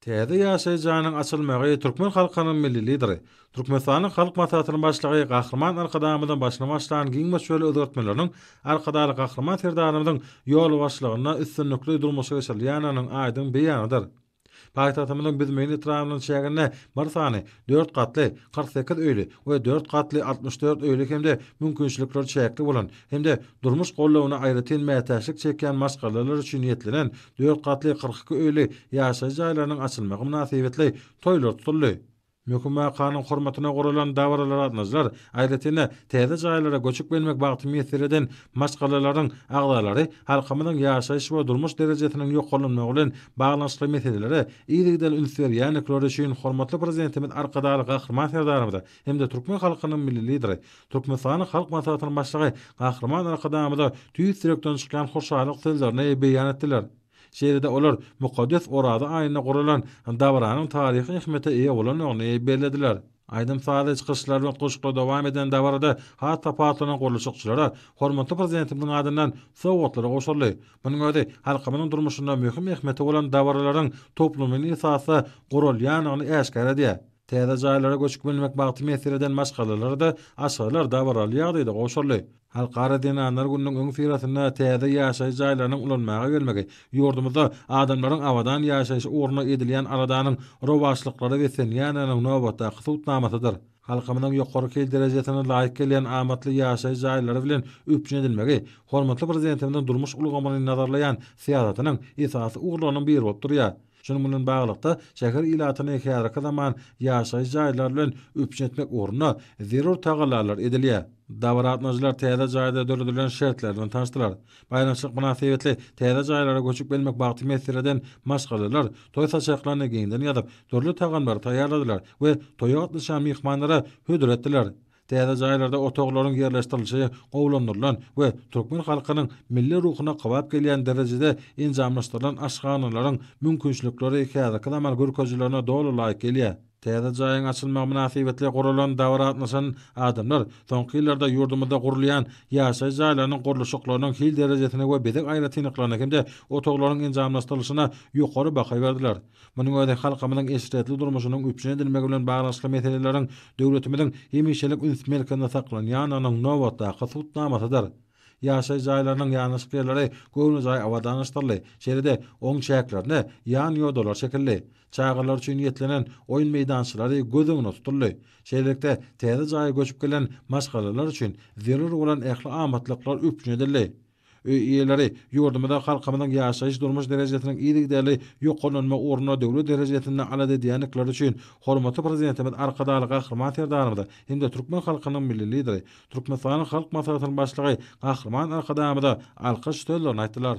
Täze ýaşaýyş jaýynyň açylmagy türkmen halkynyň Milli Lideri, Türkmenistanyň Halk Maslahatynyň Başlygy Gahryman Arkadagymyzyň başyny başlan giň möçberli özgertmeleriniň Arkadagly Gahryman Serdarymyzyň ýolbaşçylygynda üstünlikli durmuşa geçirilýändiginiň aýdyň beýanydyr. Paýtagtymyzyň Büzmeýin etrabynyň çäginde bir sany dört gatly kyrk sekiz öýli we dört gatly altmyş dört öýli hem-de mümkinçilikleri çäkli bolan hem-de Durmuş goldawyna aýratyn mätäçlik çekýän maşgalalar üçin niýetlenen dört gatly kyrk iki öýli ýaşaýjy jaýlarynyň açylmagy mynasybetli toýlar tutuldy. Möhüm wakanyň hormatyna guralan dabaralara gatnadyjylar, aýratyn-da, täze jaýlara göçüp gelmek bagty miýesser eden maşgalalaryň agzalary halkymyzyň ýaşaýyş we durmuş derejesiniň ýokarlanmagy bilen baglanyşykly meselelere yzygiderli üns berýändikleri üçin hormatly Prezidentimiz Arkadagly Gahryman Serdarymyza hem-de türkmen halkynyň Milli Lideri, Türkmenistanyň Halk Maslahatynyň Başlygy Gahryman Arkadagymyza tüýs ýürekden çykýan hoşallyk sözlerini beýan etdiler. Şeýle-de olar mukaddes Oraza aýynda guralan dabaranyň taryhy ähmiýete eýe bolandygyny bellediler. Aýdym-sazly çykyşlar we goşgula dowam eden dabarada has tapawutlanan gurluşykçylara hormatly Prezidentimiziň adyndan sowgatlar gowşuryldy. Munuň özi halkymyzyň durmuşynda möhüm ähmiýeti bolan dabaralaryň toplumyny esasda guralýandygyny äşgär edýär. Täze jaýlara göçüp gelmek bagty mesdir eden maşgalalara-da Aşgarlar dabaraly ýagdaýda gowşuryldy. Halkara zenanlar gününiň öňüsyrasynda täze ýaşaýyş jaýlarynyň ulanmaga gelmegi ýurdumyzda adamlaryň abadan ýaşaýyş ugruna edilýän aladanyň rowaçlyklara beslenýändiginiň nobatdaky subutnamasydyr. Halkymyzyň ýokary hil derejesine laýyk gelýän amatly ýaşaýyş jaýlary bilen üpjün edilmegi hormatly Prezidentimiziň durmuş ulgamyny nazarlaýan syýasatynyň esasy ugurlarynyň biri bolup durýar. Şunuň bilen baglylykda, şäher ilatyny häzirki zaman ýaşaýyş jaýlar bilen üpjün etmek ugrunda zerur tagallalar edilýär. Dabara gatnaşyjylar täze jaýda döredilen şertler bilen tanyşdylar. Baýramçylyk mynasybetli täze jaýlara göçüp gelmek bagty meseleden maşgalalar toý saçaklaryny giňden ýazyp, dürli tagamlary taýýarladylar we toýa gatnaşýan myhmanlara hödür etdiler. Täze jaýlarda otaglaryň ýerleşdirilişi gowulandyrylan we türkmen halkynyň milli ruhuna kybap gelýän derejede enjamlaşdyrylan aşhanalaryň mümkinçilikleri häzirki zaman görkezijilerine doly laýyk gelýär. Täze jaýyň açylmagy mynasybetli guralan dabara gatnaşan adamlar soňky ýyllarda ýurdumyzda gurulýan ýaşaýyş jaýlarynyň gurluşyklarynyň hil derejesine we bezeg aýratynlyklaryna hem-de otaglaryň enjamlaşdyrylyşyna ýokary baha berdiler. Munuň özi halkymyzyň eşretli durmuşynyň üpjün edilmegi bilen baglanyşykly meseleleriň döwletimiziň hemişelik üns merkezinde saklanýandygynyň nobatdaky subutnamasydyr. Ýaşaýyş jaýlarynyň ýanaşyk ýerleri göwnejaý abadanlaşdyryldy, şeýle-de oň çäklerine ýan ýodalar çekildi. Çagalar üçin niýetlenen oýun meýdançalary göz öňünde tutuldy. Şeýlelikde, täze jaýa göçüp gelen maşgalalar üçin zerur bolan ähli amatlyklar üpjün edildi. Öý eýeleri, ýurdumyzda halkymyzyň ýaşaýyş-durmuş derejesiniň yzygiderli ýokarlanma ugrunda döwlet derejesinde alada edýändikleri üçin hormatly Prezidentimiz Arkadagly Gahryman Serdarymyza hem-de türkmen halkynyň Milli Lideri, Türkmenistanyň Halk Maslahatynyň Başlygy Gahryman Arkadagymyza alkyş sözlerini aýtdylar.